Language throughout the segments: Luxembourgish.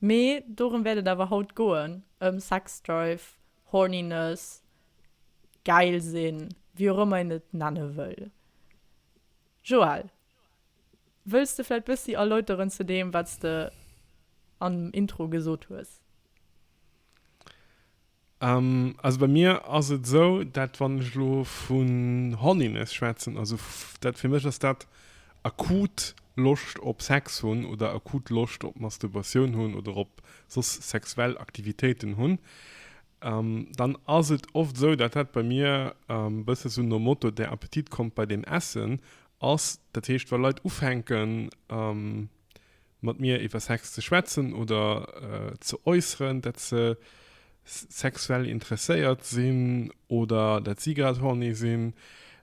Mee dorëm wäert et awer haut goen, ëm Sexdrive, Horniness, gäil sinn, wéi och ëmmer een et nenne wëll. Joël, wëlls de vläicht bëssi erläuteren zu deem, wat s de am Intro gesot hues? Also bei mir ass et esou, dat wann ech elo vun Horniness schwätzen, also dat fir mech ass dat akut Loscht op Sex hunn oder akut Loscht op Masturbatioun hunn oder op soss sexuell Aktivitéiten hunn, dann ass et oft esou, dat dat bei mir e bësse sou nom Motto, der Appetit kommt bei dem Essen ass. Dat heescht wa Leit ufänken. mat mir iwwer Sex ze schwätzen oder ze äusseren, dat se sexuell interesséiert sinn oder dat si grad horny sinn,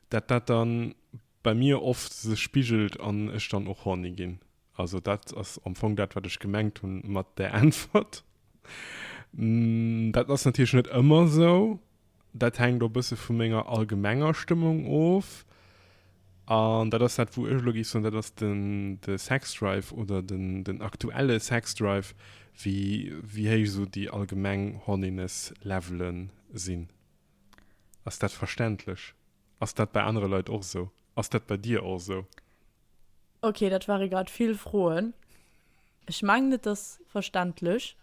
dat dat dann bei mir oft sech spigelt an ech dann och horny ginn. Also dat ass am Fong dat, wat ech gemengt hu mat där Äntwert. Dat ass natierlech net ëmmer esou. Dat hänkt och e bësse vu menger allgemenger Stëmmung of. An dat ass dat, wou ech elo géif soen, dat ass den, de Sexdrive oder den, den aktuelle Sexdrive, wéi, wéi héich esou déi allgemeng Horniness-Levele sinn. Ass dat verständlech? Ass dat bei anere Leit och esou? Ass dat bei dir och esou? Okay, dat ware grad vill Froen. Ech mengen, et ass verständlech.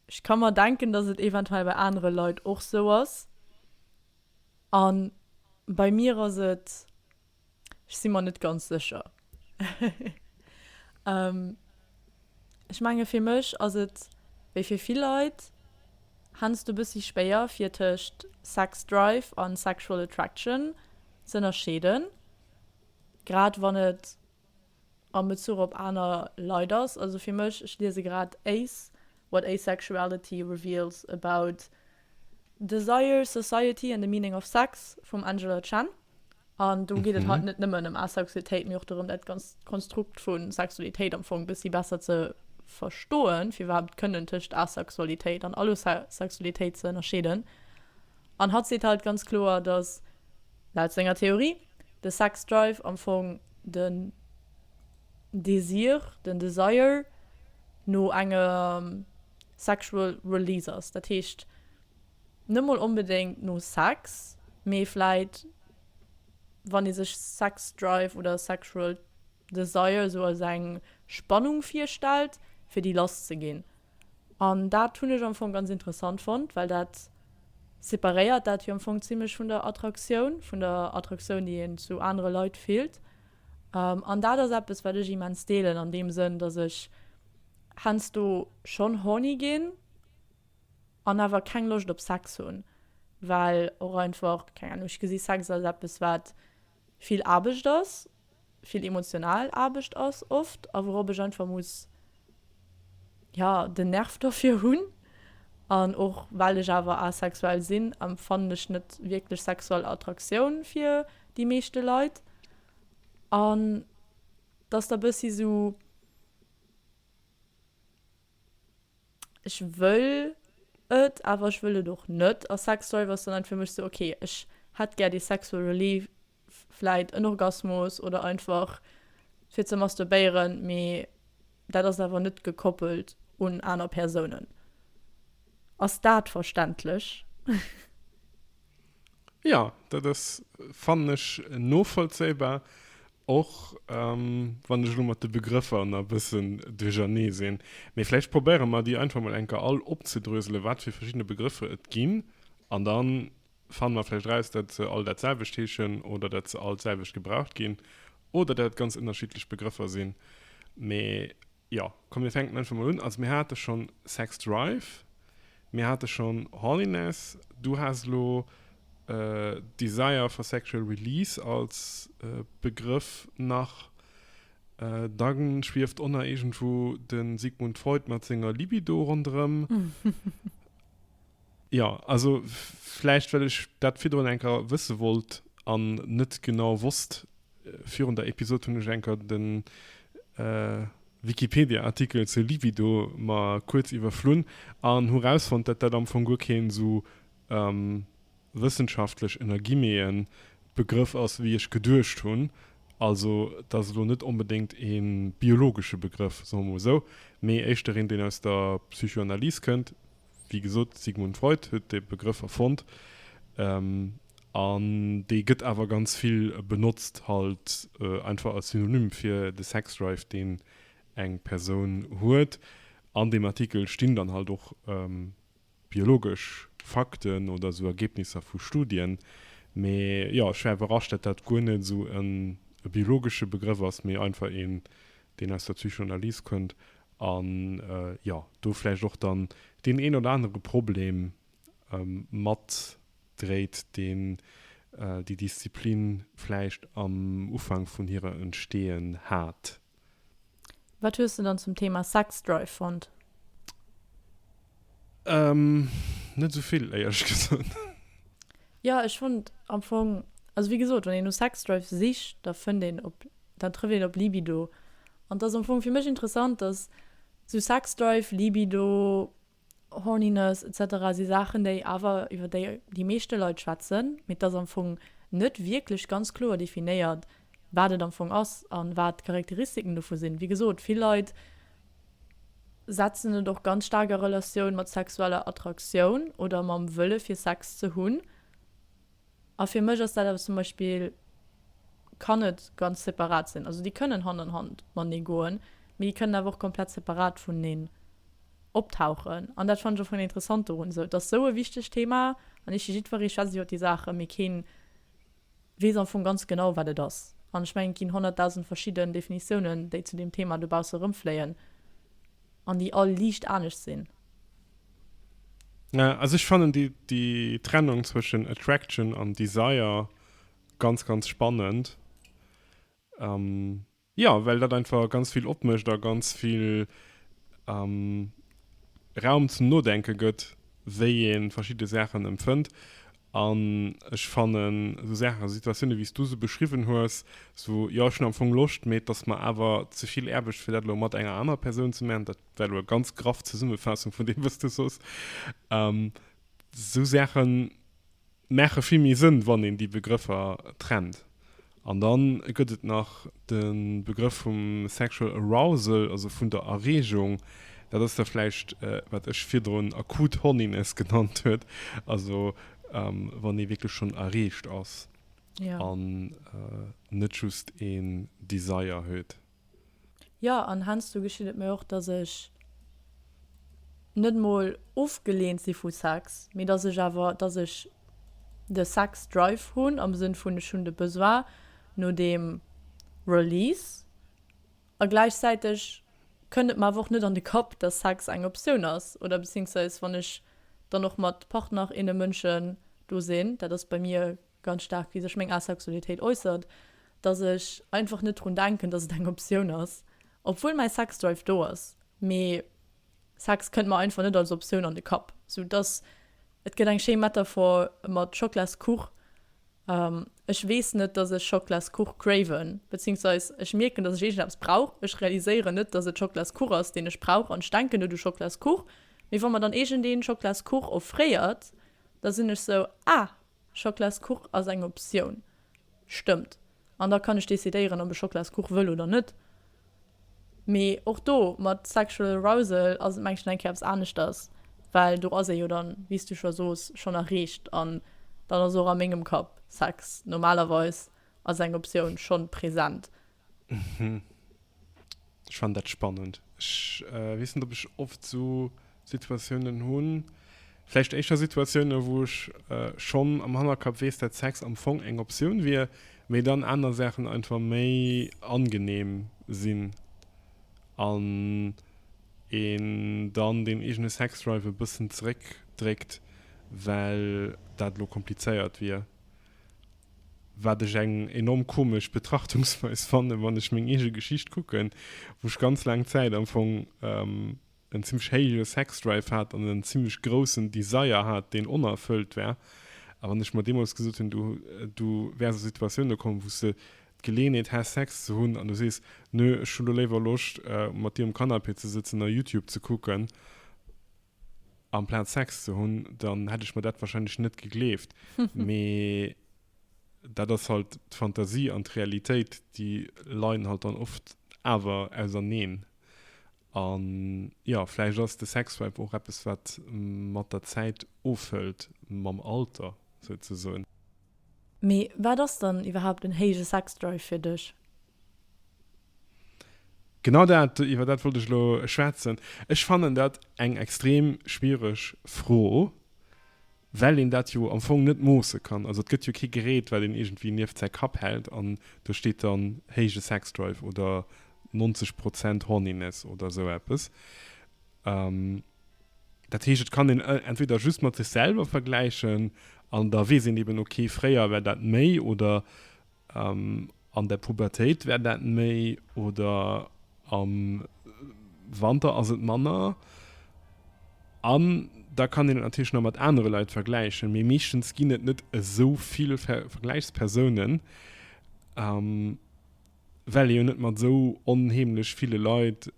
Ech ka mer denken, dass et eventuell bei anere Leit och sou ass. A bei mir ass et, ech si mer net ganz sécher. Ech menge fir mech ass et, wéi fir vill Leit, heiansdo e bëssi schwéier fir tëscht Sex Drive a Sexual Attraction z'ënnerscheeden, grad wann et, a Bezuch op aner Leit ass. Also fir mech, ech liese grad Ace, What Asexuality Reveals About Desire, Society and the Meaning of Sex vum Angela Chen. An do geet et halt net nëmmen ëm Asexualitéit, mee och dorëm, dat ganzt Konstrukt vu Sexualitéit am Fong e bëssi besser ze verstoen, fir iwwerhaapt kënnen tëscht Asexualitéit an Allosexualitéit ze ënnerscheeden. An hatt seet halt ganz kloer, datt. Laut senger Theorie, de Sex Drive, am Fong den Desir, den Desire no engem Sexual Release ass. Dat heescht net mol onbedéngt no Sex, mee vläit wann ee sech Sex Drive oder Sexual. de Seil sou als eng Spannung virstellt fir déi lass ze ginn an dat hunn ech am Fong ganz interessant fonnt, well dat separéiert dat jo am Fong zimlech vun der Attraktioun, vun der Attraktioun déi een zu anere Leit fillt an dat ass eppes wat ech immens deelen an deem Sënn, dass ech heiansdo schonn horny ginn an awer keng Loscht op Sex hunn, well och einfach, keng Ahnung, ech gesi Sex als eppes wat vill Aarbecht ass, vill emotional Aarbecht ass oft a wourop ech einfach muss, jo, den Nerv derfir hunn. An och well ech awer asexuell sinn, empfannen ech net wierklech sexuell Attraktioun fir déi meeschte Leit. An dass da bëssi sou. ech wëll et, awer ech wëll et och net. A Sex Drive ass dann einfach fir mech sou, ok, ech hätt gär dee sexual relief, vläit en Orgasmus oder einfach fir ze masturbéieren, mee dat ass awer net gekoppelt un aner Persounen. Ass dat verständlech? Jo, dat ass, fannen ech, novollzéibar. Och wann ech elo mat de Begrëffer nach e bëssen duerchernee sinn. Mee vläicht probéiere mer, déi einfach mol eng Kéier all opzedröselen, wat fir verschidde Begrëffer et ginn. An da fanne mer vläicht eraus, datt se all dat selwecht heeschen oder datt se all d'selwecht gebraucht ginn oder datt et ganz ënnerschiddlech Begrëffer sinn. Mee. Jo, komm mir fänken einfach mol un. Also mir hate schon Sex Drive, mir hate schon Horniness, du has elo Desire for Sexual Release als Begrëff nach, da schwieft och nach iergendwou de Sigmund Freud mat senger Libido ronderëm. Jo, also vläicht well ech dat virdrun eng Kéier wësse wollt an net genau wosst, Virun der Episode hunn ech enker den Wikipedia Artikel zur Libido mer kuerz iwwerflunn an hu rausfonnt dat dat am Fong guer keen sou wëssenschaftlech ënner Guillemeten Begrëff ass wéi ech geduecht hunn. Also et ass elo net onbedéngt ee biologesche Begrëff, soe mer mol sou, mee éischter een deen aus der Psychoanalyse kënnt, Wéi gesot, de Sigmund Freud huet dee Begrëff erfonnt an dee gëtt awer ganz vill benotzt, halt einfach als Synonym fir de Sexdrive, deen eng Persoun huet. An deem Artikel stinn dann halt och biologesch Fakten oder esou Ergebnisser vu Studien. Mee jo, ech war iwwerrascht, datt dat guer net esou e biologesche Begrëff ass, mee einfach een, deen aus der Psychoanalyse kënnt an jo do vläicht och dann deen een oder anere Problem mat dréit, deen déi Disziplin vläicht am Ufank vun hirer Entstehen hat. Wat hues de dann zum Thema Sex Drive fonnt? Ehm net esou vill éierlech gesot. Jo ech fond am fong, also wéi gesot wann een no Sexdrive sicht da fënnt een op, dann trëfft een op Libido an et ass am fong fir mech interessant dass sou Sexdrive, Libido, Horniness etc si Saachen déi awer iwwer déi déi meeschte Leit schwätzen mee et ass am fong net wierklech ganz kloer definéiert. wat et am Fong ass a wat d'Charakteristiken dovu sinn. Wéi gesot, vill Leit setzen et och ganz staark a Relatioun mat sexueller Attraktioun oder mam Wëlle fir Sex ze hunn. A fir mech ass dat eppes zum Beispill, kann et ganz separat sinn. Also déi kënnen Hand an Hand matenee goen, mee déi kënnen awer och komplett separat vuneneen optauchen. An dat fannen ech am Fong interessant dorun. Sou, et ass esou e wichtegt Thema an ichi jiddweree schwätzt iwwer déi Saachen, mee keen weess am Fong ganz genau wat et ass. An ech mengen et ginn 100.000 verschidden Definitiounen déi zu deem Thema dobausse erëmfléien an déi all liicht anescht sinn. Also ech fannen déi déi Trennung zwëschen Attraction an Desire ganz ganz spannend. Jo, well dat einfach ganz vill opmécht a ganz vill Raum zum Nodenke gëtt, wéi ee verschidde Saachen empfënnt. An ech fannen esou Saachen, esou Situatioune wéi s du se beschriwwen hues, esou, jo ech hunn am Fong Loscht, mee et ass mer awer ze vill Aarbecht fir dat elo mat enger anerer Persoun ze maachen, dat war elo eng ganz graff Zesummefaassung vun deem wat s du sos, esou Saache Maache vill méi Sënn, wann een déi Begrëffer trennt. An da gëtt et nach de Begrëff vum sexual arousal, also vun der Erreegung. Dat ass da vläicht, wat ech virdrun akut Horniness genannt huet, also wann ee wierklech schonn erreegt ass an net just een Desire huet. Jo, an heiansdo geschitt et mir och, dass ech net mol ofgeleent si vu Sex, mee dass ech awer, dass ech de Sex-Drive hunn, am Sënn vun, ech hunn de Besoin no deem Release. A gläichzäiteg kënnt et mer awer och net an de Kapp, dass Sex eng Optioun ass, oder beziéiungsweis wann ech dann och mat Partner, inne, Mënschen do sinn, dat ass bei mir ganz staark wéi sech meng Asexualitéit äussert, dass ech einfach net drun denken, dass et eng Optioun ass, obwuel mäi Sexdrive do ass, mee Sex kënnt mer einfach net als Optioun an de Kapp. Sou dass, et gëtt eng schéi Metaphor mat Schoklaskuch, ech weess net, dass ech Schoklaskuch craven, beziéungsweis ech mierken, dass ech iergendeppes brauch, ech realiséieren net, dass et Schoklaskuch ass, deen ech brauch an ech denken net u Schoklaskuch, mee wa mer dann iergendee Schoklaskuch offréiert, da sinn ech sou, ah, Schoklaskuch ass eng Optioun, stëmmt. An da kann ech decidéieren, ob ech Schoklaskuch wëll oder net. Mee och do, mat sexual arousal ass et mengt ech eng Kéier eppes aneschters, well do ass ee jo dann, wéi s du scho soos, schonn erreecht an dann ass och a mengem Kapp Sex normalerweis als eng Optioun schonn present. Ech fannen dat spannend. Ech weess net op ech oft esou Situatiounen hunn. Vläicht éischter Situatiounen, wou ech schonn am Hannerkapp weess, dat Sex am Fong eng Optioun wier, mee dann aner Saachen einfach méi angeneem sinn an een dann deen eegene Sexdrive e bëssen zeréckdréckt, well dat elo komplizéiert wier. wat ech eng enorm komesch Betrachtungsweis fannen, wann ech meng eege Geschicht kucken, wou ech ganz laang Zäit am Fong en zimmlech héije Sexdrive hat an en zimmlech groussen Desire hat, deen onerfëllt war. A wann ech mer deemools gesot hunn, du, du wäers a Situatioune kommen, wou s de d'Geleeënheet häss, Sex ze hunn, an du sees, Nö, ech hunn elo léiwer Loscht, mat dir um Canapé ze sëtzen a YouTube ze kucken, Amplaz Sex ze hunn, dann hätt ech mer dat wahrscheinlech net gegleeft. Mee dat ass halt d'Fantasie an d'Realitéit, déi leien halt dann oft awer auserneen. An jo, vläicht ass de Sexvibe och eppes, wat mat der Zäit ofhëlt, mam Alter souzesoen. Mee wat ass dann iwwerhaapt en héije Sexdrive fir dech? Genau dat, iwwer dat wollt ech elo schwätzen. Ech fannen dat eng extrem schwiereg Fro, well een dat jo am Fong net moosse kann. Also et gëtt jo kee Gerät, wat een iergendwéi nieft säi Kapp hält an do steet dann héije Sexdrive oder 90 Prozent Horniness oder esou eppes. Dat heescht, et kann een entweder just mat sech selwer vergläichen an da weess een eben, okay, fréier war dat méi oder an der Pubertéit war dat méi oder am Wanter ass et manner. An da kann een et natierlech nach mat anere Leit vergläichen, mee meeschtens ginn et net esou vill Vergläichspersounen. well ee jo net mat esou onheemlech ville Leit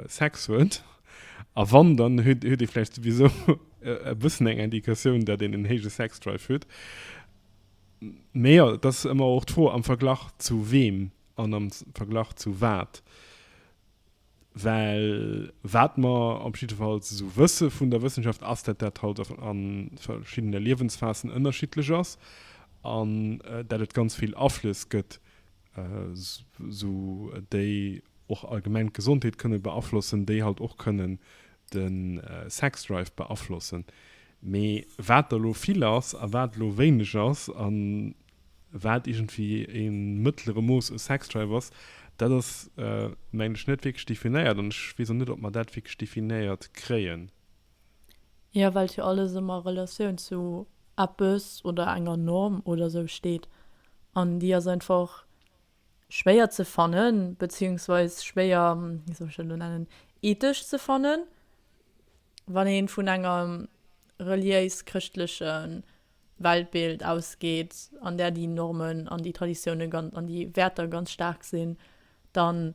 Sex huet, a wann, dann huet ee vläicht souwisou e bëssen eng Indikatioun, datt een en héije Sex-Drive huet. Mä jo, et ass ëmmer och d'Fro, am Verglach zu weem an am Verglach zu wat. Well wat mer op jiddefalls esou wësse vun der Wëssenschaft, ass, datt dat halt a verschiddene Liewensphasen ënnerschiddlech ass an datt et ganz vill Aflëss gëtt, esou déi och allgemeng d'Gesondheet kënne beaflossen, déi halt och kënnen de Sexdrive beaflossen. Mee wat der elo vill ass a wat elo wéineg ass a wat iergendwéi e mëttlere Mooss u Sexdrive ass, dat ass, mengen ech, net wierklech definéiert an ech weess och net, ob mer dat wierklech definéiert kréien. Jo, well jo alles ëmmer a Relatioun zu eppes oder enger Norm oder sou steet an déi ass einfach schwéier ze fannen, beziehungsweise schwéier, wéi soll ech dat elo nennen, ethesch ze fannen, wann ee vun engem reliéis-chrëschtlechen Weltbild ausgeet, an där déi Normen an déi Traditiounen an déi Wäerter ganz staark sinn, dann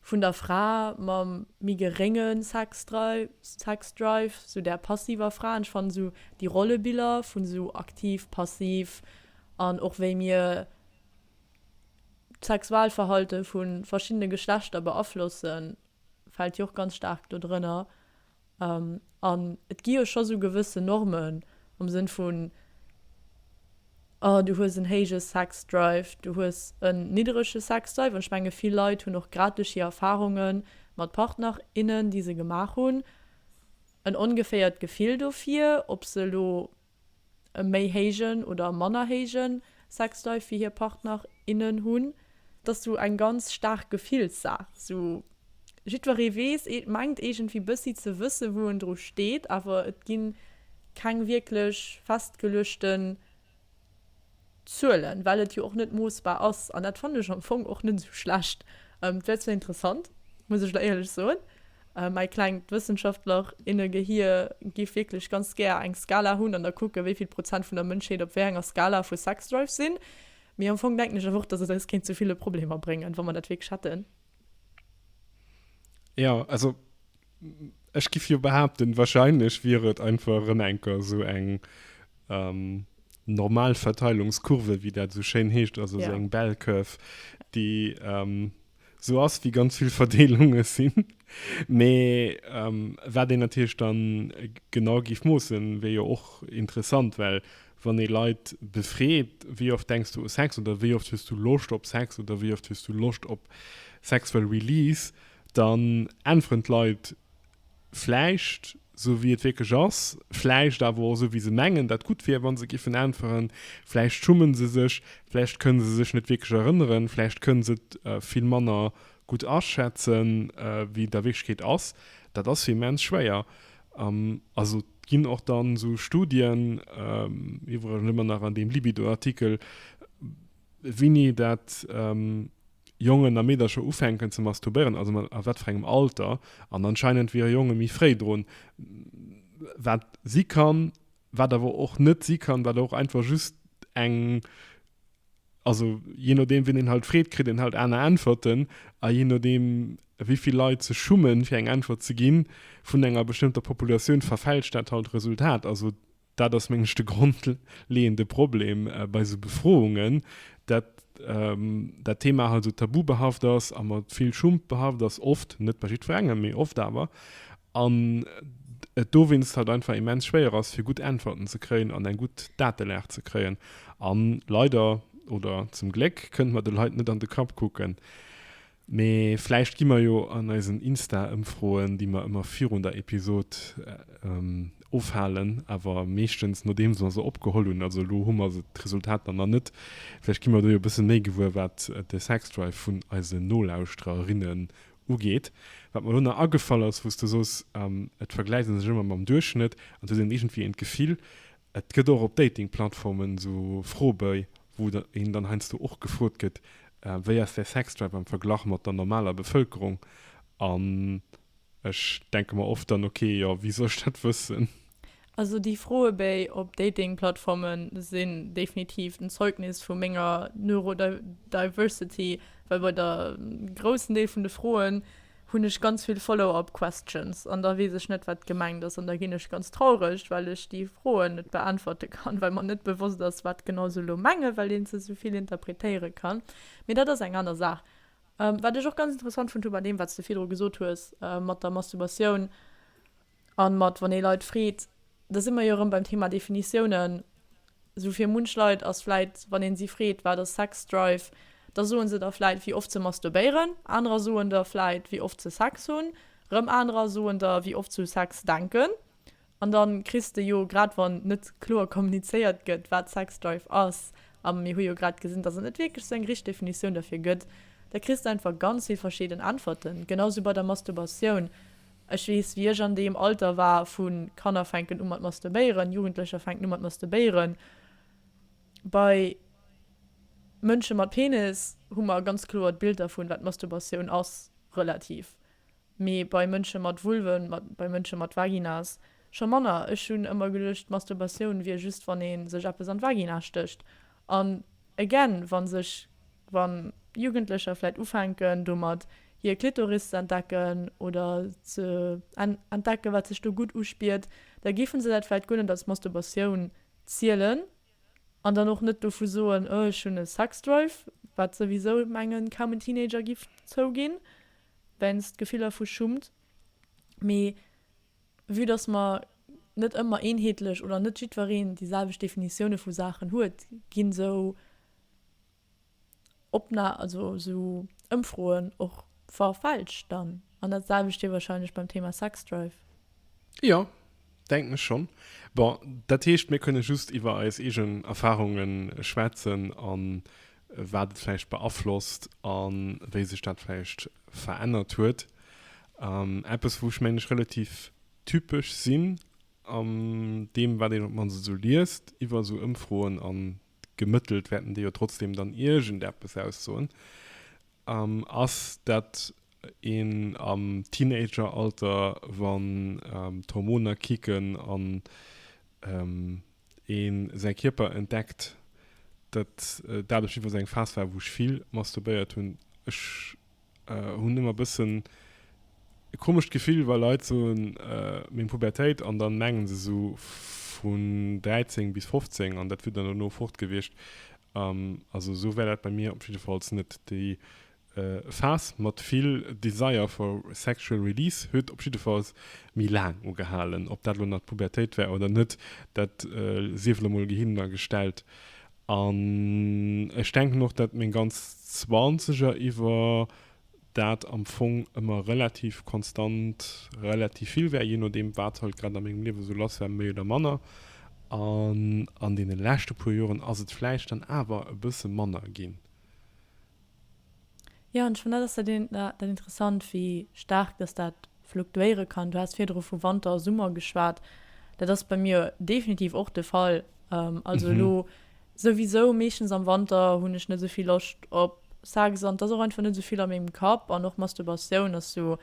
Vun der Fra mam méi gerénge Sexdrive, sou där passiver Fra. An ech fannen esou déi Rollebiller vun esou aktiv, passiv an och wéi mir d'Sexualverhalte vu verschiddene Geschlechter beaflossen, fält jo och ganz staark do drënner. An et gi jo scho sou gewësse Normen am Sënn vun, du hues en héije Sexdrive, du hues en nidderege Sexdrive. An ech menge vill Leit hunn och grad duerch hir Erfarunge mat Partner, innen, déi se gemaach hunn, en ongeféiert Gefill dofir, ob se elo e méi héijen oder manner héije Sexlife wéi hir Partner, innen hunn. Et ass sou eng ganz staark Gefillssaach. Sou jiddweree weess, mengt iergendwéi bëssi ze wësse wou en dru steet, awer et gi keng wierklech festgeluechten Zuelen, well et jo och net moossbar ass. An dat fannen ech am Fong och net esou schlecht. Et wär zwar interessant, muss ech der éierlech soen, mäi klengt Wëssenschaftlerinnegehir giff wierklech ganz gär eng Skala hunn an da kucken, wéi vill Prozent vun der Mënschheet op wéi enger Skala vu Sexdrive sinn. Mee am Fong denken ech awer och, dass et eis kéint zu ville Problemer bréngen, wa mer dat wierklech hätten. Jo, also Ech giff jo behaapten, wahrscheinlech wier et einfach erëm enker esou eng normal Verteilungskurve, wéi dat esou schéin heescht, also esou eng Bell Curve, déi esou ass, wéi ganz vill Verdeelunge sinn. Mee wat een natierlech da genau giff moossen, wier jo och interessant, well wann ee Leit befreet, wéi oft denks du u Sex oder wéi oft hues du Loscht op Sex oder wéi oft hues du Loscht op sexual release, Dann äntweren d'Leit vläicht esou, wéi et wierklech ass, vläicht awer och esou, wéi se mengen, dat gutt wier, wa se géifen äntweren. Vläicht schumme se sech, vläicht kënne se sech net wierklech erënneren, vläicht kënne se et vill manner gutt aschätzen, wéi et a Wierklechkeet ass. Dat ass jo immens schwéier. Also et ginn och dann esou Studien, iwwregens ëmmer nach an deem Libido-Artikel, wéini dat. Jongen a Meedercher ufänken ze masturbéieren, also mat a wat fir engem Alter, an anscheinend wiere Jonge méi fréi drun, wat si kann, wat awer och net si kann, wat och einfach just eng, also jee nodeem wien een halt freet, kritt een halt aner Äntwerten, a jee nodeem wéi vill Leit sech schummen fir eng Äntwert ze ginn vun enger bestëmmter Populatioun, verfälscht dat halt d'Resultat. Also Dat ass mengen ech de grondleeënde Problem bei esou Befroungen, dat dat Thema halt esou tabubehaft ass a mat vill Schump behaft ass, oft, net bei jiddwerengem, mee oft awer, an et dowéinst halt einfach immens schwéier ass fir gutt Äntwerten ze kréien an eng gutt Datelag ze kréien. A leider, oder zum Gléck, kënnt mer de Leit net an de Kapp kucken. Mee vläicht gi mer jo an eisen Insta-Ëmfroen, déi mer ëmmer virun der Episod ofhalen, awer meeschtens nodeems mer se opgeholl hunn, also elo hu mer se d'Resultater nach net, vläicht gi mer do jo e bësse méi gewuer, wat de Sexdrive vun eise Nolauschtererinnen ugeet. Wat mer elo nach agefall ass, wou s de sos, et vergläicht ee sech ëmmer mam Duerchschnëtt an et huet een iergendwéi een d'Gefill, Et gëtt och op Dating-Plattformen esou Froeböi, wou een dann heiansdo och gefrot gëtt, wéi ass däi Sexdrive am Verglach mat der normaler Bevëlkerung? An ech denke mer oft dann, okay, jo, wéi soll ech dat wëssen? Also déi Froebéi op Dating-Plattforme sinn definitiv en Zeugnis vu menger Neurodiversity, well bei der groussen Deel vun de Froen, hunn ech ganz vill Follow-up questions an da weess ech net wat gemengt ass an da ginn ech ganz traureg well ech déi Froen net beäntwerte kann, well mer net bewosst ass wat genau se elo mengen, well een se esou vill interpretéiere kann. Mee dat ass eng aner Saach. Wat ech och ganz interessant fonnt hu bei deem wat s de virdru gesot hues mat der Masturbatioun, An mat wann ee Leit freet, da si mer jo erëm beim Thema Definitiounen. Sou fir munch Leit ass vläit, wann een si freet, wat ass Sex Drive, da soen se der vläit wéi oft se masturbéieren, anerer soen der vläit wéi oft se Sex hunn, rëm anerer soen der wéi oft se u Sex denken. An dann kriss de jo, grad wann net kloer kommunizéiert gëtt, wat Sex Drive ass, a mir hu jo grad gesinn, dass et net wierklech sou eng richteg Definitioun derfir gëtt, da kriss de einfach ganz vill verschieden Äntwerten. Genau sou bei der Masturbatioun. Ech weess, wéi ech an deem Alter war vu Kanner fänken u mat masturbéieren, Jugendlecher fänken u mat masturbéieren. Bei Mënsche mat Penis hu mer e ganz kloert Bild dervun, wat Masturbatioun ass, relativ. Mee bei Mënsche mat Vulve, bei Mënsche mat Vaginas scho manner. Ech hunn ëmmer geduecht, Masturbatioun wier just, wann ee sech eppes an d'Vagina stécht. An again, wa sech, wa Jugendlecher vläit ufänken domat hir Klitoris ze entdecken oder ze entdecken, wat sech do gutt uspiert, da géife se dat vläit guer net als Masturbatioun zielen an dann och net dovu soen, oh ech hunn e Sexdrive, wat souwisou, mengen, kaum en Teenager géif zouginn, weinst Gefiller vu Schummt. Mee. Vue dass mer net ëmmer eenheetlech oder net jiddwereen déi selwecht Definitioune vu Saachen huet, ginn esou Opna also esou Ëmfroen och verfälscht dann. An dat selwecht wier wahrscheinlech beim Thema Sexdrive. Jo, denken ech schonn. Bon, dat heescht, mir kënne just iwwer eis eegen Erfahrunge schwätzen an wat et vläicht beaflosst a wéi sech dat vläicht verännert huet. Eppes, wou ech, mengen ech, relativ typesch sinn an deem, wat een op d'mannst esou liest iwwer esou Ëmfroen, a gemëttelt wäerten déi jo trotzdeem dann iergendeppes aussoen, An ass dat een am Teenageralter, wann d'Hormoner kicken an ee säi Kierper entdeckt, dat dat op jiddwer Fall eng Phas war, wou ech vill masturbéiert hunn. Ech hunn ëmmer e bëssen e komescht Gefill, wa Leit soen, meng Pubertéit, an da menge se esou vun 13 bis 15, an dat wier dann dono fort gewiescht. Also sou war dat bei mir op jiddefalls net. Déi Phas mat vill Desire for sexual release huet op jiddefalls méi laang ugehalen. Ob dat elo nach d'Pubertéit war oder net, dat sief elo mol gehinner gestellt. An ech denken och, dat meng ganz Zwanzeger iwwer dat am Fong ëmmer relativ konstant relativ vill war, je nodeem, wat halt grad a mengem Liewe sou lass war, méi oder manner. An an deene leschte puer Joren ass et vläicht dann awer e bësse manner ginn. Jo, an ech fannen, dat ass dat interessant, wéi staark dass dat. fluktuéiere kann. Du has virdru vu Wanter a Summer geschwat. Dat ass bei mir definitiv och de Fall. Also elo souwisou meeschtens am Wanter hunn ech net sou vill Loscht op Sex an et ass och einfach net sou vill a mengem Kapp. An och Masturbatioun ass sou,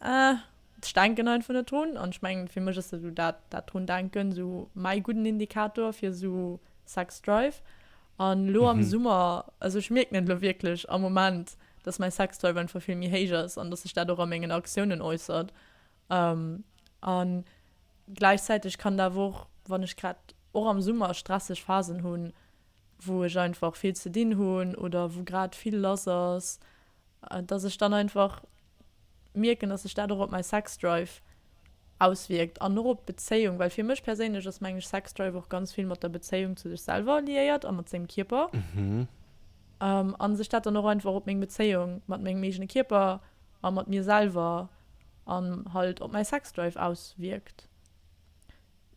eh, ech denken einfach net drun. An ech mengen, fir mech ass dat elo dat drun denken sou mäi gudden Indikator fir sou Sex-Drive. An elo am Summer, also ech mierken et elo wierklech am Moment, dass mäi Sexdrive einfach vill méi héich ass an dass sech dat och a mengen Aktiounen äussert. A gläichzäiteg kann dat awer och, wann ech grad och am Summer stresseg Phasen hunn, wou ech einfach vill ze dinn hunn oder wou grad vill lass ass, dass ech dann einfach mierken, dass sech dat och op mäi Sexdrive auswierkt an och op d'Bezéiung, well fir mech perséinlech ass, meng ech, Sexdrive och ganz vill mat der Bezéiung zu sech selwer liéiert a mat sengem Kierper a sech dat dann och einfach op meng Bezéiung mat mengem eegene Kierper a mat mir selwer an halt op mäi Sexdrive auswierkt.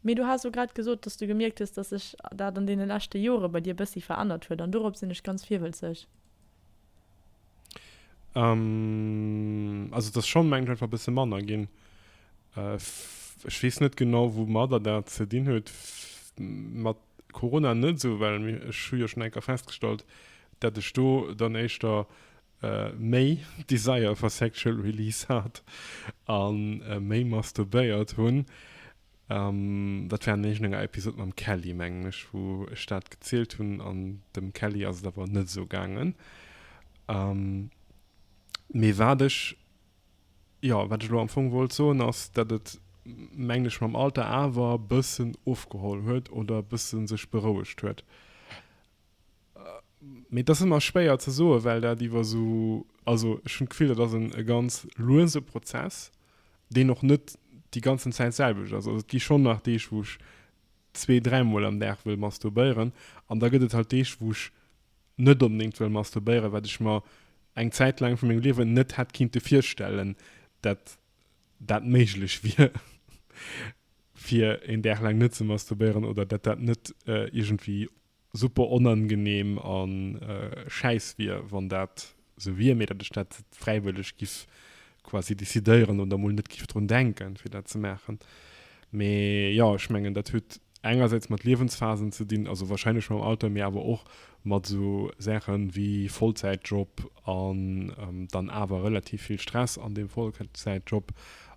Mee du has elo grad gesot, dass s du gemierkt hues, dass sech dat an deene leschte Jore bei dir e bëssi verännert huet an dorops sinn ech ganz virwëlzeg. Ähm, also et ass schonn, mengen ech, einfach e bësse manner ginn. Ech weess net genau, woumadder dat ze dinn huet, mat Corona net esou, well ech hu jo schonn eng Kéier festgestallt, datt ech do dann éischter méi Desire for sexual release hat a méi masturbéiert hunn. Um, dat war an iergend enger Episode mam Kelly, mengen ech, wou ech dat gezielt hunn, an dem Kelly ass et awer net esou gaangen. Um, mee wat ech, jo, wat ech elo am Fong wollt soen, ass, datt et, mengen ech, mam Alter awer e bëssen ofgeholl huet oder e bësse sech berouegt huet. Mee dat ass ëmmer schwéier ze soen, well dat iwwer esou, also ech hunn d'Gefill, dat ass e ganz luese Prozess, deen och net déi ganzen Zäit d'selwecht ass. Also et gi schonn nach Deeg, wou ech zwee, dräi Mol am Dag wëll masturbéieren an da gëtt et halt Deeg, wou ech net onbedéngt wëll masturbéieren, wat ech mer eng Zäit laang vu mengem Liewen net hätt kinnte virstellen, dat dat méiglech wier, fir een Dag laang net ze masturbéieren oder dat dat net iergendwéi super onangenehm a schäiss wier, wann dat sou wier, mee datt ech dat fräiwëlleg giff quasi decidéieren oder mol net giff drun denken, fir dat ze maachen. Mee jo, ech mengen, dat huet engersäits mat Liewensphasen ze dinn, also wahrscheinlech mam Alter, mee awer och mat sou Saache wéi Vollzäitjob an dann awer relativ vill Stress an deem Vollzäitjob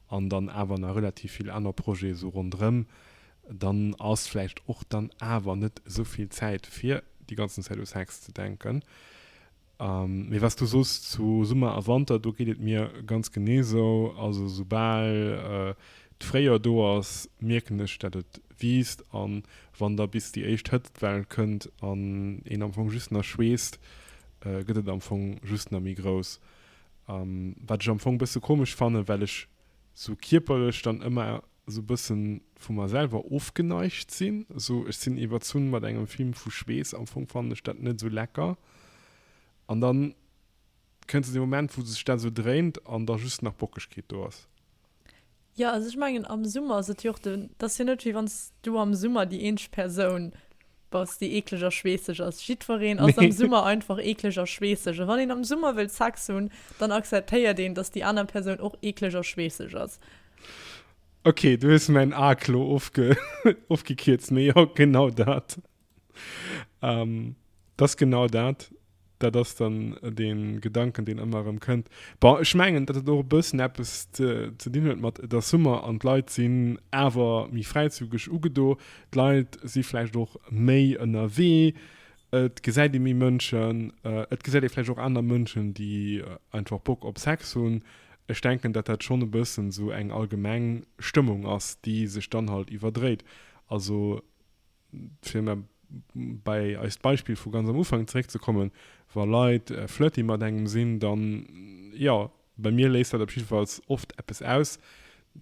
an dann awer nach relativ vill aner Projete sou ronderëm, dann ass vläicht och dann awer net esou vill Zäit fir déi ganzen Zäit u Sex ze denken. Mee was du soos zu Summer a Wanter, do geet et mir ganz genee sou. Also esoubal d'Fréijoer do ass, mierken ech dat et wiisst an wann da bis déi éischt Hëtztwell kënnt an een am Fong just na schweesst, gëtt et am Fong just na méi grouss. Wat ech am Fong e bësse komesch fannen, well ech sou kierperlech dann ëmmer esou bëssen vu mer selwer ofgeneigt sinn, esou ech sinn iwwerzunn mat engem Film vu Schweess, am Fong fannen ech dat net esou lecker, an dann kënnt esou dee Moment wou sech dat esou dréint an da just nach Bockegkeet do ass. Jo also ech mengen am Summer ass et jo och den, et ass jo net wéi wanns du am Summer déi eenzeg Persoun bass déi eekleg a schweesseg ass, jiddwereen ass am Summer einfach eekleg a schweesseg a wann een am Summer wëll Sex hunn, dann akzeptéiert een dass déi aner Persoun och eekleg a schweesseg ass. Ok, du hues mäin A klo ofge ofgekierzt, mee jo, genau dat. Ähm, dat ass genau dat. Dat ass dann dee Gedanken, deen ëmmer erëm kënnt. Bon, ech mengen, datt et och e bëssen eppes ze ze dinn huet mat, et ass Summer an d'Leit sinn awer méi fräizügeg ugedo. D'Leit si vläicht och méi ënnerwee. Et gesäit ee méi Mënschen, et gesäit ee vläicht och aner Mënschen, déi einfach Bock op Sex hunn. Ech denken, datt dat schonn e bëssen esou eng allgemeng Stëmmung ass, déi sech dann halt iwwerdréit. Also fir mer bei eist Beispill vu ganz am Ufank zeréckzekommen, wa Leit flirty mat engem sinn, dann, jo, Bei mir léist dat op jiddefalls oft eppes aus,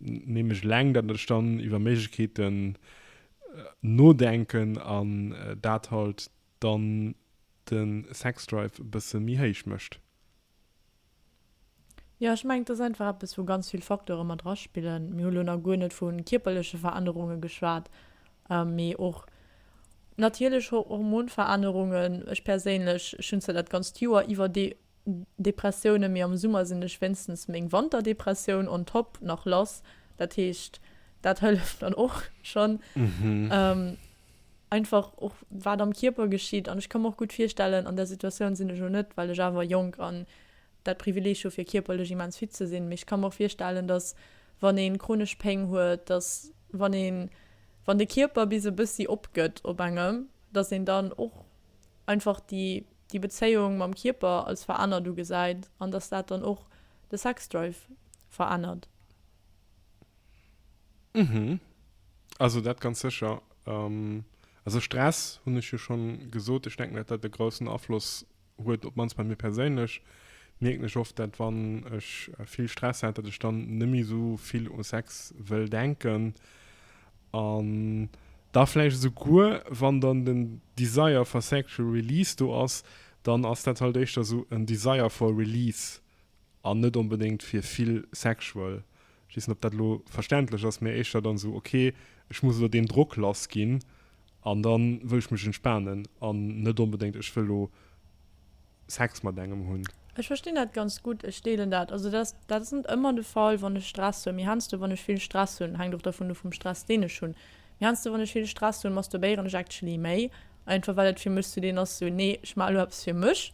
nämlech eleng, datt ech dann iwwer Méiglechkeeten nodenken an dat halt dann de Sexdrive e bësse méi héich mécht. Jo, ech mengen, et ass einfach eppes, wou ganz vill Facteure mat draspillen. Mir hu lo nach guer net vu kierperleche Verännerunge geschwat, mee och natierlech Hormonverännerungen. Ech perséinlech, ech hunn zwar dat ganzt Joer iwwer dee Depressiounen, mee am Summer sinn ech wéinstens meng Wanterdepressioun on top nach lass. Dat heescht, dat hëlleft dann och schonn. Einfach och wat am Kierper geschitt. An ech ka mer och gutt virstellen, an där Situatioun sinn ech elo net, well ech awer jonk an dat Privileeg hu fir kierperlech immens fit ze sinn, mee ech ka mer och virstellen, datt wann ee chronesch Péng huet, datt wann een, wann de Kierper bis e bëssi opgëtt op engem, datt een dann och einfach déi. déi Bezéiung mam Kierper als verännert ugesäit an datt dat dann och de Sexdrive verännert. Mhm. Also dat ganz sécher. Also Stress hunn ech jo schonn gesot. Ech denken, datt dat e groussen Afloss huet, op d'mannst bei mir perséinlech mierken ech oft, datt wann ech vill Stress hat, datt ech dann net méi esou vill u Sex wëll denken. An da vläicht esouguer, wann dann den Desire for Sexual Release do ass, dann ass dat halt éischter esou en Desire for Release an net onbedéngt fir vill Sexual. Ech weess net, ob dat elo verständlech ass, mä éischter dann esou, okay, ech muss elo deem Drock lass ginn an da wëll ech mech entspanen an net onbedéngt, ech wëll elo. Sex mat engem hunn. Ech verstinn dat ganz gutt, ech deelen dat. Also dat ass, dat ass net ëmmer de Fall, wann ech Stress hunn, mee heiansdo wann ech vill Stress hunn, hänkt och dervun of vum Stress deen ech hunn, mee heiansdo wann ech vill Stress hunn, masturbéieren ech actually méi, einfach well et fir mech sou deen ass, sou nee ech maache elo eppes fir mech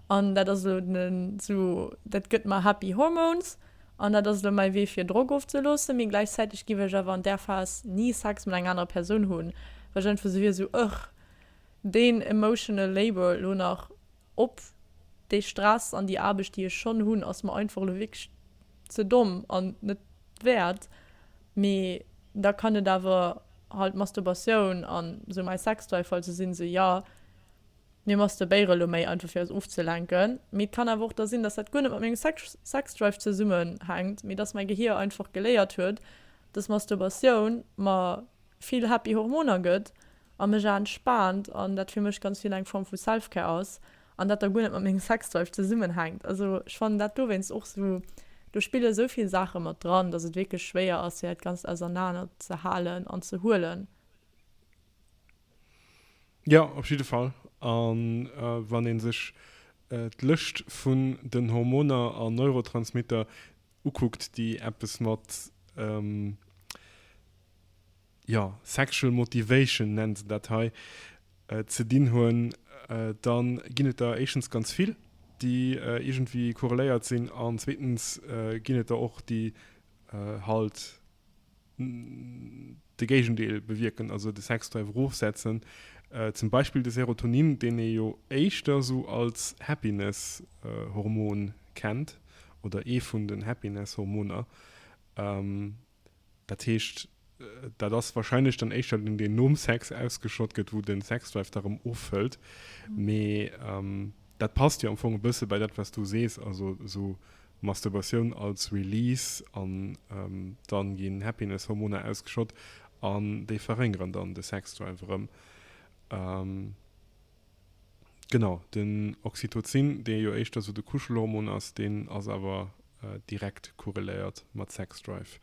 an dat ass elo den, sou dat gëtt mer happy hormones an dat ass elo mäi Wee fir Drock ofzeloossen. Mee gläichzäiteg giff ech awer an där Phas ni Sex mat enger anerer Persoun hunn, well ech einfach sou wier, sou ëch. deen emotional labour elo nach op, dee Stress an déi Aarbecht déi ech schonn hunn ass mer einfach elo wierklech ze domm an net wäert, mee da kann et awer halt Masturbatioun an esou mäi Sextoy, falls se sinn, se jo mir masturbéiere elo méi einfach fir eis ofzelenken, mee et kann awer och da sinn, dass dat guer net mat mengem Sexdrive zesummenhänkt, mee dass mäi Gehier einfach geléiert huet, dass Masturbatioun mer vill happy Hormoner gëtt a mech awer entspaant an dat fir mech ganz vill eng Form vu Selfcare ass an dat da guer net mat mengem Sexdrive zesummenhänkt. Also ech fannen dat dowéinst och sou, do spille esou vill Saache mat dran, datt et wierklech schwéier ass fir dat Ganzt ausernaner ze halen an ze huelen. Jo, op jidde Fall. A wann ee sech d'Lëscht vun den Hormoner an Neurotransmitter ukuckt, déi eppes mat jo, sexual motivation nennen se dat hei, ze dinn hunn, da ginn et der éischtens ganz vill, déi iergendwéi korreléiert sinn, an zweetens ginn et der och, déi halt de Géigendeel bewierken, also de Sexdrive erofsetzen, zum Beispill de Serotonin, deen ee jo éischter esou als Happiness-Hormon kennt oder ee vun den Happiness-Hormoner. Dat heescht, dat ass wahrscheinlech dann éischter deen, deen nom Sex ausgeschott gëtt, wou den Sexdrive da rëm offëllt. Mee ähm, dat passt jo am Fong e bësse bei dat, wat s du sees, also esou Masturbatioun als Release an ähm, dann ginn Happiness-Hormoner ausgeschott an déi verréngeren dann de Sexdrive erëm. Ähm, Genau, den Oxytocin, dee jo éischter sou de Kuschelhormon ass, deen ass awer direkt korreléiert mat Sexdrive.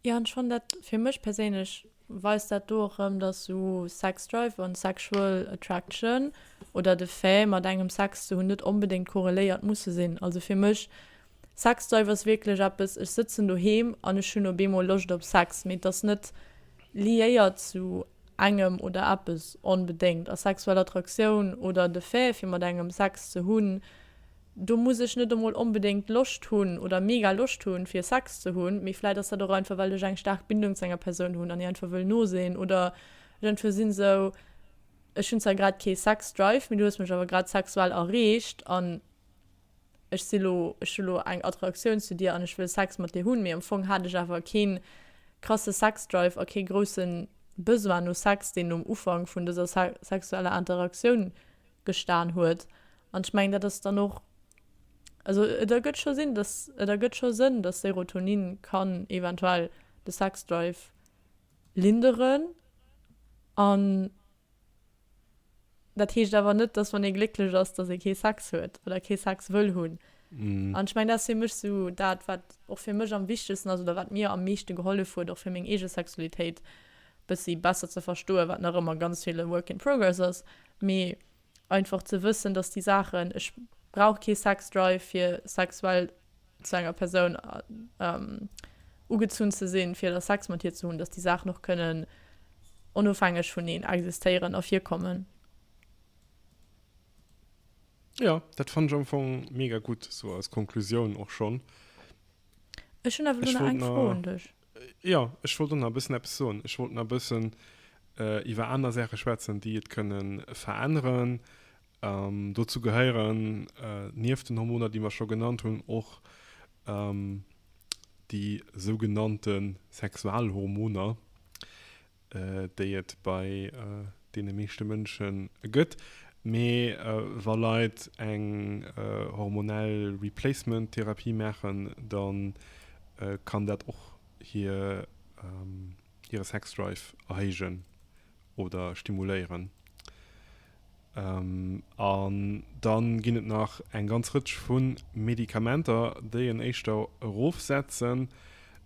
Jo, an schonn dat, fir mech perséinlech weist dat do och erëm, dass sou Sexdrive an sexual attraction oder de Fait mat engem Sex ze hunn net onbedéngt korreléiert musse sinn. Also fir mech Sex Drive ass wierklech eppes, ech sëtzen doheem an ech hunn op eemol Loscht op Sex, mee et ass net liéiert zu engem oder eppes onbedéngt. A sexuell Attraktioun oder de Fait fir mat engem Sex ze hunn, do muss ech net emol onbedéngt Loscht hunn oder mega Loscht hunn fir Sex ze hunn, mee vläit ass dat och einfach well ech eng staark Bindung zu enger Persoun hunn an hir einfach wëll no sinn oder ech einfach sinn esou, ech hunn zwar grad kee Sex Drive, mee du hues mech awer grad sexuell erreecht an. ech si lo, ech hu lo eng Attraktioun zu dir an ech wëll Sex mat dir hunn, mee am Fong hat ech awer keen krasse Sexdrive a kee grousse Besoin no Sex, deen um Ufank vun dëser sexueller Interaktioun gestan huet. An ech mengen, dat ass dann och, also et ergëtt scho Sinn, dass, et ergëtt scho Sënn, dass Serotonin kann eventuell de Sexdrive linderen an. Dat heescht awer net, dass wann ee glécklech ass, dass ee kee Sex huet oder kee Sex wëll hunn. An ech mengen, dat ass fir mech esou dat, wat och fir mech am wichtegsten ass oder wat mir am meeschte gehollef huet, och fir meng eege Sexualitéit e bëssi besser ze verstoen, wat nach ëmmer ganz vill e Work in progress ass, mee einfach ze wëssen, dass déi Saachen, ech brauch kee Sex-Drive, fir sexuell zu enger Persoun ugezunn ze sinn, fir da Sex mat hir ze hunn, dass déi Saachen och kënnen onofhängeg vuneen existéieren a virkommen. Jo, dat fannt ech am Fong mega gutt, esou als Konklusioun och schonn. Ech hunn awer elo nach eng Fro un dech. Jo, ech wollt och nach e bëssen eppes soen. Ech wollt nach e bëssen iwwer aner Saache schwätzen, déi et kënne veränneren. Dozou gehéieren, nieft den Hormoner, déi mer scho genannt hunn, och déi sougenannte Sexualhormoner, déi et bei deene meeschte Mënsche gëtt. Mee wa Leit eng hormonell Replacement Therapie maachen, da kann dat och hire Sexdrive erhéijen. oder stimuléieren. Ähm, an dann ginn et nach eng ganz Rëtsch vu Medikamenter, déi en éischter erofsetzen.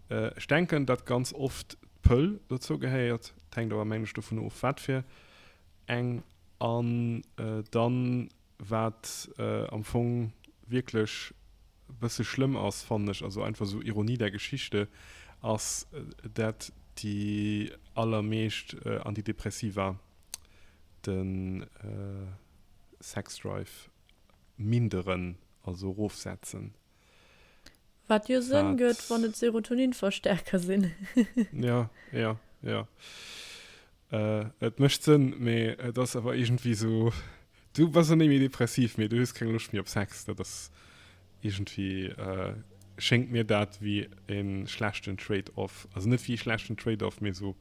Ech denken, datt ganz oft d'Pëll dozou gehéiert, et hänkt awer mengen ech dovun of, wat fir eng. An dann Wat am Fong wierklech e bësse schlëmm ass, fannen ech, also einfach sou Ironie der Geschichte, ass dat déi allermeescht Antidepressiva de Sexdrive minderen, also erofsetzen. Wat jo Sënn Wat? gëtt, wann et Serotoninverstärker sinn. Ja, ja, ja. Äh, et mécht Sënn, mee et ass awer iergendwéi esou, du bass en néi méi depressiv, mee du hues keng Loscht méi op Sex. Dat ass iergendwéi, äh, schéngt mir dat wéi e schlechten Trade-off. Also net wéi e schlechten Trade-off, mee esou,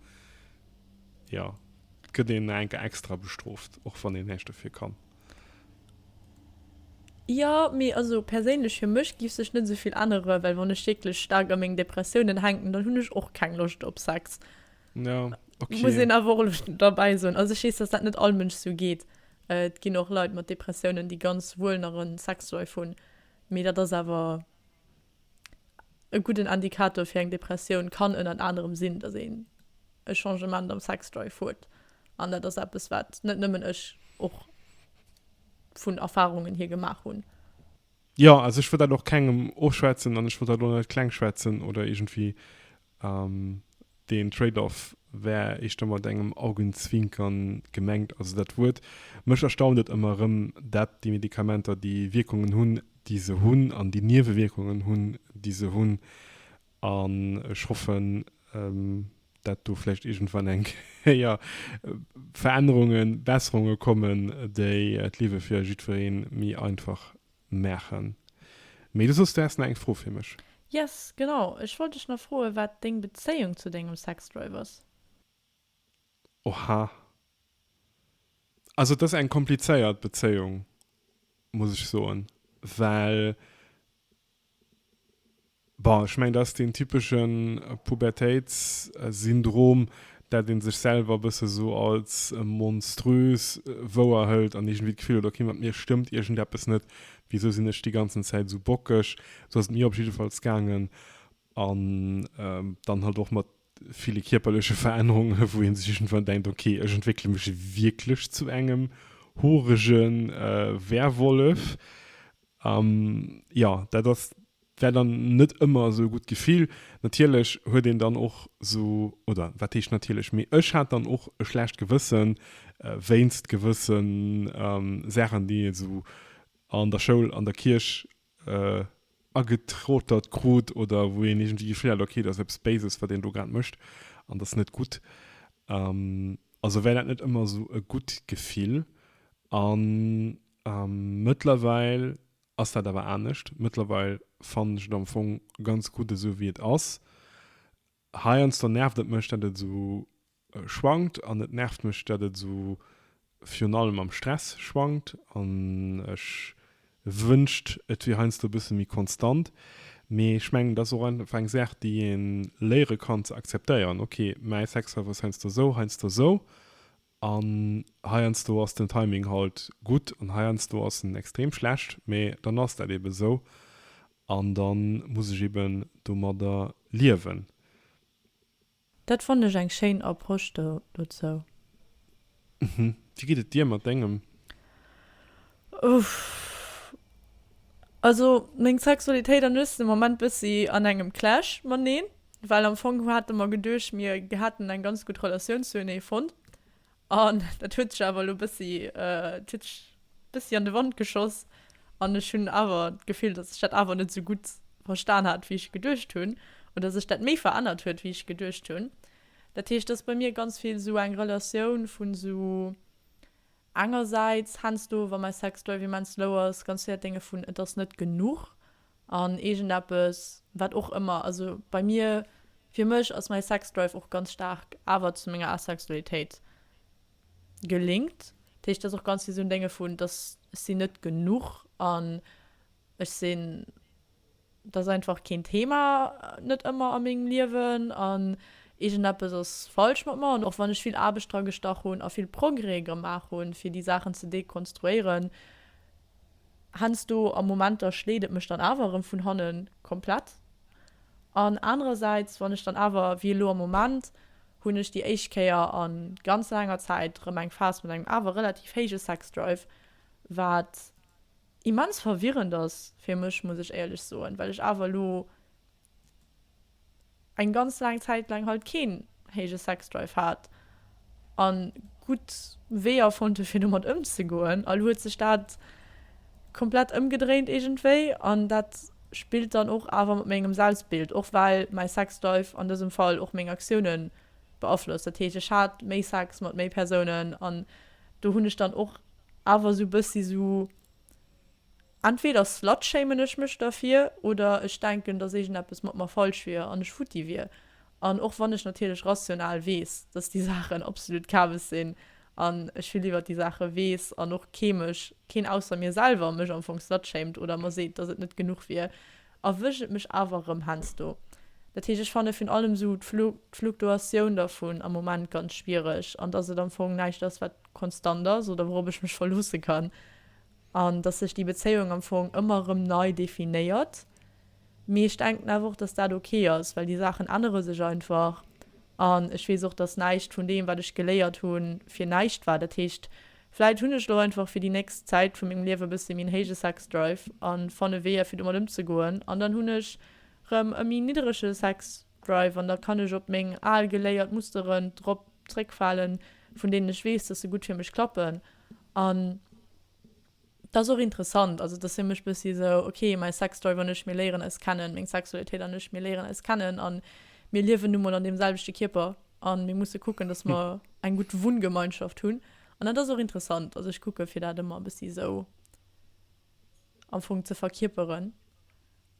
ja, et gëtt een nach eng Kéier extra bestrooft, och wann een näischt dofir kann. Jo, mee also perséinlech fir mech géif sech net esou vill änneren, well wann ech wierklech staark a meng Depressiounen hänken, dann hunn ech och keng Loscht op Sex. Ja, ok. Muss een awer och elo derbäi soen. Also ech weess, dass dat net all Mënsch esou geet. Et ginn och Leit mat Depressiounen, déi ganz wuel nach e Sexlife hunn, mee dat ass awer. E gudden Indikator fir eng Depressioun kann ënnert anerem sinn, dass een e Changement am Sexdrive huet. An dat ass eppes, wat net nëmmen ech och vun Erfarungen hier gemaach hunn. Jo, also ech wëll dat och kengem ofschwätzen an ech wëll dat och net klengschwätzen oder iergendwéi Deen Trade-off war éischter mat engem Augenzwinkern gemengt. Also dat Wuert, mech erstaunt et ëmmer erëm, dat déi Medikamenter déi Wierkungen hunn, déi se hunn, an déi Niewewierkungen hunn, déi se hunn. An ech hoffen, dat do vläicht iergendwann eng Kéier Verännerungen, Besserunge kommen, déi d'Liewe fir jiddweree méi einfach Maachen. Mee du soss, du häss nach eng Fro fir mech. Yes, genau. Ech wollt dech nach froen, wat deng Bezéiung zu dengem Sexdrive ass. Oha. Also, et ass eng komplizéiert Bezéiung, muss ech soen, well Bon, ech mengen, dat ass deen typesche Pubertéitssyndrom, dat ee sech selwer e bësse sou als monströs wouer hëlt an iergendwéi d'Gefill huet, ok, mat mir stëmmt iergendeppes net, wisou sinn ech déi ganzen Zäit esou bockeg? Sou ass et mir op jiddefalls gaangen an dann halt och mat ville kierperleche Verännerunge wou ee sech iergendwann denkt, ok ech entwéckele mech wierklech zu engem hoerege Werwollef. Jo dat ass war dann net ëmmer esou e gutt Gefill. Natierlech huet een dann och esou, oder wat heescht natierlech, mee ech hat dann och e schlecht Gewëssen wéinst gewësse Saachen déi ee sou an der Schoul, an der Kierch agetrotert krut oder wou een iergendwéi d'Gefill hat, okay, dat ass eppes Béises, wat een do grad mécht an dat ass net gutt. Also war dat net ëmmer esou e gutt Gefill. A mëttlerweil ass dat awer anescht. Mëttlerweil fannen ech et am Fong ganz gutt, esou wéi et ass. Heiansdo nervt et mech dat et sou schwankt an et nervt mech dat et sou virun allem am Stress schwankt an ech wënscht et wier heiansdo e bësse méi konstant. Mee ech mengen et ass och einfach eng Saach déi ee léiere kann ze akzeptéieren, ok mäi Sexlife ass heiansdo sou, heiansdo sou An heiansdo ass den Timing halt gutt an heiansdo ass en extrem schlecht, mee dann ass dat eben esou an dann muss ech eben domadder liewen. Dat fonnt ech eng schéin Approche dozou. Wéi geet et dir mat dengem? Also meng Sexualitéit an ech sinn am Moment bëssi an engem Clash maneen. Well am Fong hate mer geduecht, mir hätten eng ganz gutt Relatioun zuenee fonnt. An dat huet sech awer elo e bëssi, et huet sech e bëssi an de Wand geschoss. An ech hunn awer d'Gefill, datt sech dat awer net esou gutt verstan hat, wéi ech geduecht hunn. Oder sech dat méi verännert huet, wéi ech geduecht hunn. Dat heescht, et ass bei mir ganz vill esou eng Relatioun vu esou engersäits, Hänns do, wa mäi Sextoy wéi mäin Slow ass, ganz vill dat Dénge vun et ass net genuch. an eegendeppes, wat och ëmmer, also bei mir, fir mech ass mäi Sexdrive och ganz staark awer zu menger Asexualitéit gelinkt. Dat heescht, dass och ganz vill esou Dénge vun, dass ech sinn net genuch an ech sinn, dat ass einfach keen Thema net ëmmer a mengem Liewen an eegendeppes ass falsch mat mer. An och wann ech vill Aarbecht dragestach hunn a vill Progrès gemaach hunn, fir déi Saachen ze dekonstruéieren, Hensdo a Momenter schléit et mech dann awer erëm vun hanne komplett an. Anerersäits, wann ech dann awer, wéi elo am Moment, hunn ech déi éischt Kéier a ganz laanger Zäit erëm eng Phas mat engem awer relativ héije Sexdrive, wat immens verwirrend ass fir mech, muss ech éierlech soen, well ech awer elo eng ganz laang Zäit laang halt keen héije Sexdrive hat an gutt Weeër fonnt huet fir domat ëmzegoen. Elo huet sech dat komplett ëmgedréint iergendwéi an dat spillt dann och awer mat mengem Selbstbild, och well mäi Sexdrive an dësem Fall och meng Aktiounen beaflosst. Dat heescht ech hat méi Sex mat méi Persounen an do hunn ech dann och awer sou bëssi sou Entweder slutshamen ech mech derfir oder ech denken, dass iergendeppes mat mer falsch wier an ech futti wier. An och wann ech natierlech rational weess, dass déi Saachen absolut Kabes sinn an ech vill iwwert déi Saache weess an och kee mech, keen ausser mir selwer, mech am Fong slutshamed oder mer seet, dass et net genuch wier, erwëscht et mech awer erëm hensdo. Dat heescht, ech fanne virun allem esou d'Fluktuatioun dervun am Moment ganz schwiereg an dass et am Fong näischt ass, wat konstant ass oder wourop ech mech verloosse kann. An dass sech déi Bezéiung am Fong ëmmer erëm nei definéiert. Mee ech denken awer och, dass dat ok ass, well déi Saachen ännere sech einfach. An ech weess och, dass näischt vun deem, wat ech geléiert hu, fir näischt war. Dat heescht, vläicht hunn ech elo einfach fir déi nächst Zäit vu mengem Liewe e bësse méi en héije Sex-Drive a fanne Weeër, fir domat ëmzegoen. An dann hunn ech erëm e méi nidderege Sex-Drive an da kann ech op meng al geléiert Musteren drop zréckfalen, vun deenen ech weess, dass se gutt fir mech klappen. An dat ass och interessant, also dass hie mech bëssi esou, ok, mäi Sexdrive an ech, mir léieren eis kennen, meng Sexualitéit an ech, mir léieren eis kennen a mir liewen nu mol an deem selwechte Kierper a mir musse kucken, dass mer eng gutt Wunngemeinschaft hunn. An dat ass och interessant, also ech kucke fir dat ëmmer e bëssi esou am Fong ze verkierperen.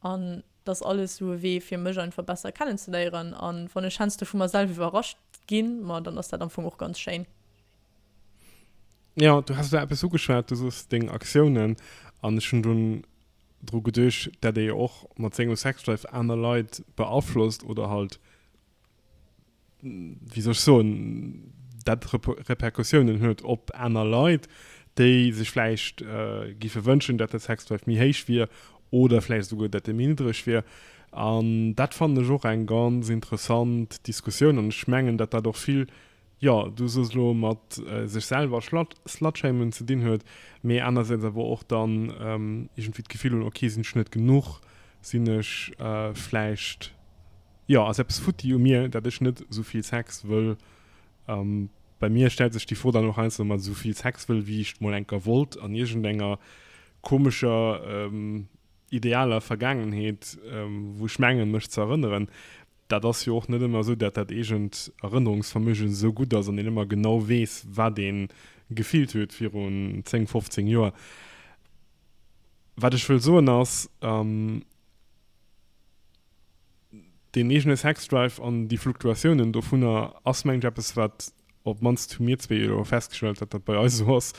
An dass alles sou e Wee fir mech einfach besser kennenzeléieren an wann ech hens do vu mer self iwwerrascht ginn, ma dann ass dat amfong och ganz schéin. Jo, du has lo eppes ugeschwat, du sos deng Aktiounen an ech hunn dunn dru geduecht, dat ee jo och mat sengem Sexdrive aner Leit beaflosst oder halt, wéi soll ech soen, dat Repercussiounen huet op aner Leit, déi sech vläicht géife wënschen, datt de Sexdrive méi héich wier oder vläicht esouguer, datt e méi niddreg wier. An dat fannen ech och eng ganz interessant Diskussioun an ech mengen, datt dat och vill jo du soss elo mat sech selwer slutshamen ze dinn huet, mee anersäits awer och dann iergendwéi d'Gefill hunn, ok sinn ech net genuch, sinn ech vläicht, jo ass eppes futti u mir, dat ech net esou vill Sex wëll. Bei mir stellt sech déi Fro dann och heiansdo mat esou vill Sex wëll, wéi ech et mol enker wollt, an iergendenger komescher idealer Vergaangenheet, wou ech mengen mech ze erënneren. Dat ass jo och net ëmmer esou, dat dat eegent Erënnerungsvermögen esou gutt ass an een ëmmer genau weess, wat een gefillt huet virun 10, 15 Joer. Wat ech wëll soen ass, deen eegene Sexdrive an déi Fluktuatiounen dovunner ass mengen ech eppes, wat op d'mannst hu mir zwee jo elo festgestellt, dat dat bei eis esou ass,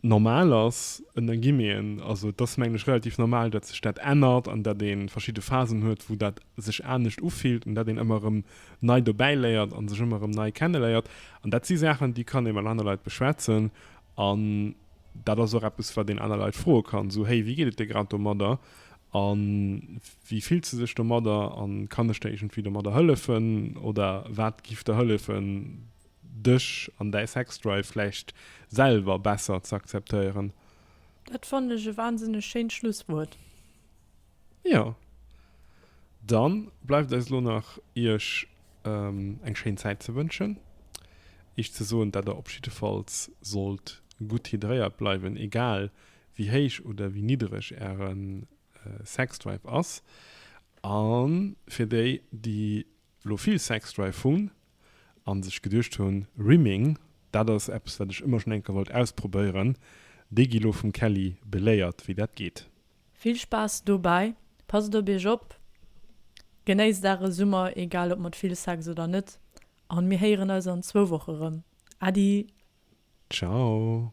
normal ass, en da ginn een, also et ass mengen ech relativ normal, datt sech dat ännert an datt ee verschidde Phasen huet, wou dat sech anescht ufillt an datt een ëmmer erëm nei dobäi léiert a sech ëmmer erëm nei kenne léiert. An dat si Saachen, déi kann ee mat aner Leit beschwätzen an dat ass och eppes, wat een aner Leit froe kann, esou héi, wéi geet et dir grad domadder a wéi fills de dech domadder a kann ech der iergendwéi domadder hëllefen oder wat giff der hëllefen, Dech an däi Sexdrive vläicht selwer besser z'akzeptéieren. Dat fannen ech e wahnsinneg schéint Schlusswuert. Jo, dann bleift eis elo nach iech eng schéin Zäit ze wënschen, iech ze soen dat der op jiddefalls sollt gutt hydréiert bleiwen, egal wéi héich oder wéi niddereg äre Sexdrive ass, an fir déi déi elo vill Sexdrive hunn, an sech geduecht hunn, Rimming, dat ass eppes wat ech ëmmer schon eng Kéier wollt ausprobéieren, déi gi lo vum Kelly beléiert wéi dat geet. Vill Spaass dobäi, passt op iech op, genéisst are Summer, egal op mat vill Sex oder net, an mir héieren eis an zwou Woche rëm. Äddi! Ciao!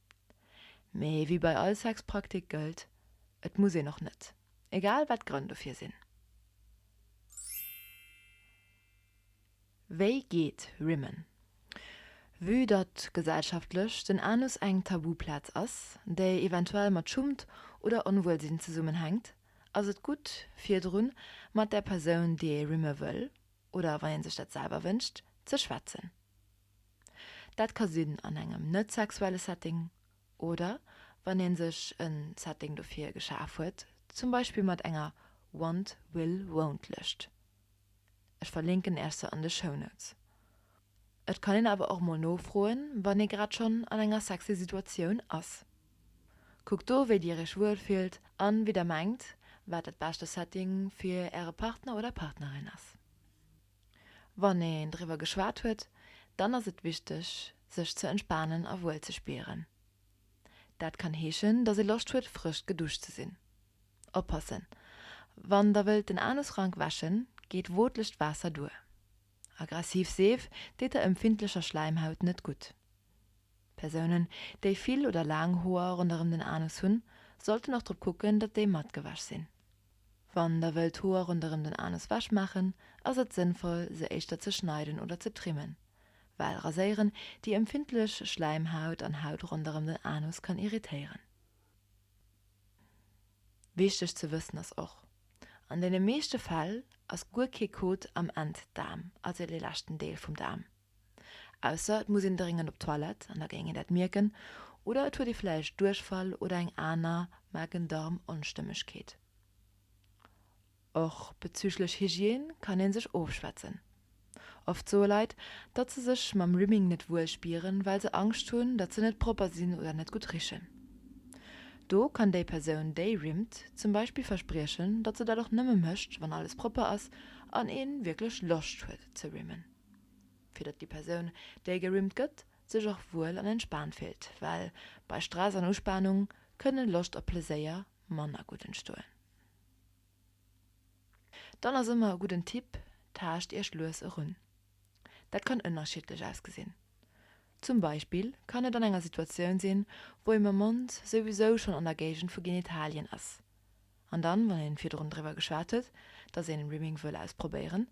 Mee wéi bei all Sexpraktik gëllt, et muss een och net, egal wat d'Grënn dofir sinn. Wéi geet Rimmen? Vue datt gesellschaftlech den Anus eng Tabuplaz ass, déi eventuell mat Schummt oder Onwuelsinn zesummenhänkt, ass et gutt virdrun mat der Persoun, déi ee rimme wëll, oder wann ee sech dat selwer wënscht, ze schwätzen. Dat ka sinn an engem net sexuelle Setting oder wann ee sech e Setting dofir geschaf huet, zum Beispill mat enger Want, Will, Won't Lëscht. Ech verlinken Iech se an de Shownotes. Et kann een awer och mol nofroen, wann ee grad schonn an enger sexy Situatioun ass. Kuckt do wéi Dir Iech wuel fillt an wéi Der mengt wat dat beschte Setting fir Äre Partner oder Partnerin ass. Wann een driwwer geschwat huet, dann ass et wichteg, sech ze entspanen a wuel ze spieren. Dat kann heeschen, dass ee Loscht huet, frësch geduscht ze sinn. Oppassen, Wann der wëllt den Anus rank wäschen, geet wootlecht Waasser duer. Aggressiv Seef deet der empfindlecher Schläimhaut net gutt. Persounen, déi vill oder laang Hoer ronderëm den Anus hunn, sollten och drop kucken, datt déi mat gewäsch sinn. Wann der wëllt Hoer ronderëm den Anus wech maachen, ass et sënnvoll se éischter ze schneiden oder ze trimmen, well raséieren déi empfindlech Schläimhaut an Haut ronderëm den Anus kann irritéieren. Wichteg ze wëssen ass och, an deene meeschte Fäll ass guer kee Kot am Enddaarm, also dee leschten Deel vum Daarm. Ausser et muss een dréngend op d'Toilette, an da géing een dat mierken, oder et huet ee vläicht Duerchfall oder eng aner Magen-Darm-Onstëmmegkeet. Och bezüglech Hygiène kann ee sech ofschwätzen. Oft soe Leit, datt se sech mam Rimming net wuel spieren, well se Angscht hunn, datt se net propper sinn oder net gutt richen. Do kann déi Persoun, déi rimmt, zum Beispill verspriechen, datt se dat och nëmme mécht, wann alles propper ass an ee wierklech Loscht huet ze rimmen. fir datt déi Persoun, déi gerymmt gëtt, sech och wuel an entspaant fillt, well bei Stress an Uspanung kënne Loscht a Pleséier manner gutt entstoen. Dann ass ëmmer e gudden Tipp, Taascht Iech lues erun. Dat kann ënnerschiddlech ausgesinn. Zum Beispill kann et an enger Situatioun sinn, wou ee mam Mond souwisou schonn an der Géigend vu Genitalien ass, an dann, wann ee virdrun driwwer geschwat huet, datt een Rimming wëll ausprobéieren,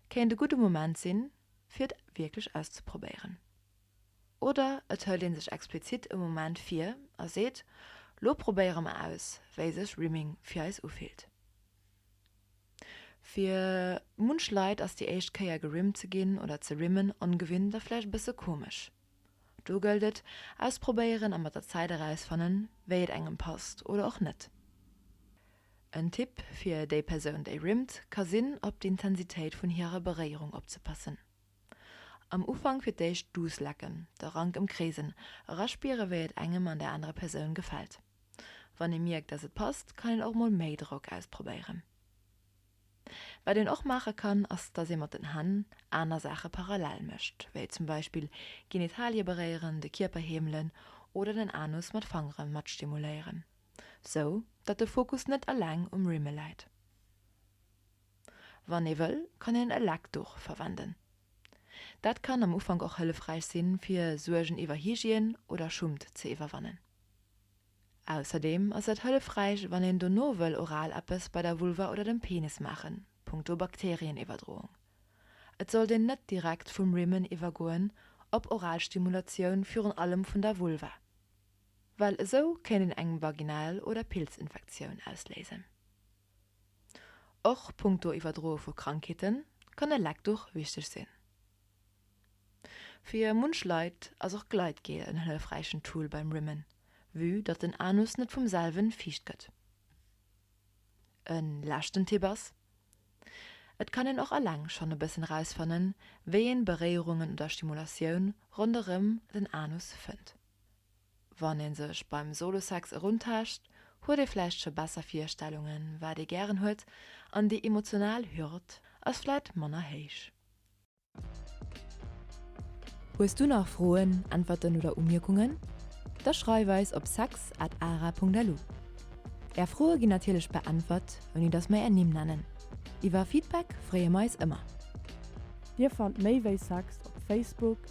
kéint e gudde Moment sinn, fir et wierklech auszeprobéieren. Oder et hëlt ee sech explizit e Moment vir a seet, Lo probéiere mer aus, wéi sech Rimming fir eis ufillt. Fir munch Leit ass déi éischt Kéier gerimmt ze ginn oder ze rimmen ongewinnt a vläicht e bësse komesch. Do gëllt et, ausprobéieren a mat der Zäit erausfannen, wéi et engem passt oder och net. En Tipp fir déi Persoun, déi rimmt, ka sinn, op d'Intensitéit vun hirer Beréierung opzepassen. Am Ufank fir d'éischt duuss lecken, de Rank ëmkreesen, eraspieren, wéi et engem an der anerer Persoun gefält. Wann ee mierkt, dass et passt, kann een och mol méi Drock ausprobéieren. Wat een och maache kann, ass datt ee mat den Hänn aner Saache parallel mécht, wéi zum Beispill Genitalie beréieren, de Kierper heemelen oder den Anus mat Fangere mat stimuléieren, sou datt de Fokus net eleng um Rimmel läit. Wann ee wëll, kann een e Leckduch verwenden. Dat kann am Ufank och hëllefräich sinn, fir Suergen iwwer Hygiène oder Schummt ze iwwerwannen. Ausserdeem ass et hëllefräich, wann een dono wëll oral eppes bei der Vulva oder dem Penis maachen, punkto Bakterieniwwerdroung. Et sollt een net direkt vum Rimmen iwwergoen op Oralstimulatioun, virun allem vun der Vulva, well esou kéint een eng Vaginal oder Pilzinfektioun ausléisen. Och punkto Iwwerdroe vu Krankheeten kann e Leckduch wichteg sinn. Fir munch Leit ass och Gleitgel en hëllefräichen Tool beim Rimmen, vue datt den Anus net vum selwen fiicht gëtt. E leschten Tipp ass, Et kann een och alleng schonn e bëssen rausfannen, wéi een Beréierungen oder Stimulatioun ronderëm den Anus fënnt. Wann ee sech beim Solo-Sex eruntaascht, huet ee vläicht scho besser Virstellungen, wat ee gären huet, an déi emotional Hürd ass vläicht manner héich. Hues du nach Froen, Äntwerten oder Umierkungen? Da schreif eis op sex at ara.lu. Är Froe ginn natierlech beäntwert, ouni dass mer är Nimm nennen. Iwwer Feedback freeë mer eis ëmmer. Dir fannt méi wéi Sex op Facebook,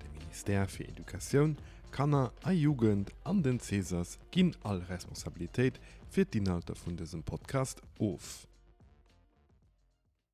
De Ministère fir Educatioun, Kanner a Jugend an den Cesas ginn all Responsabilitéit fir d'Inhalter vun dësem Podcast of.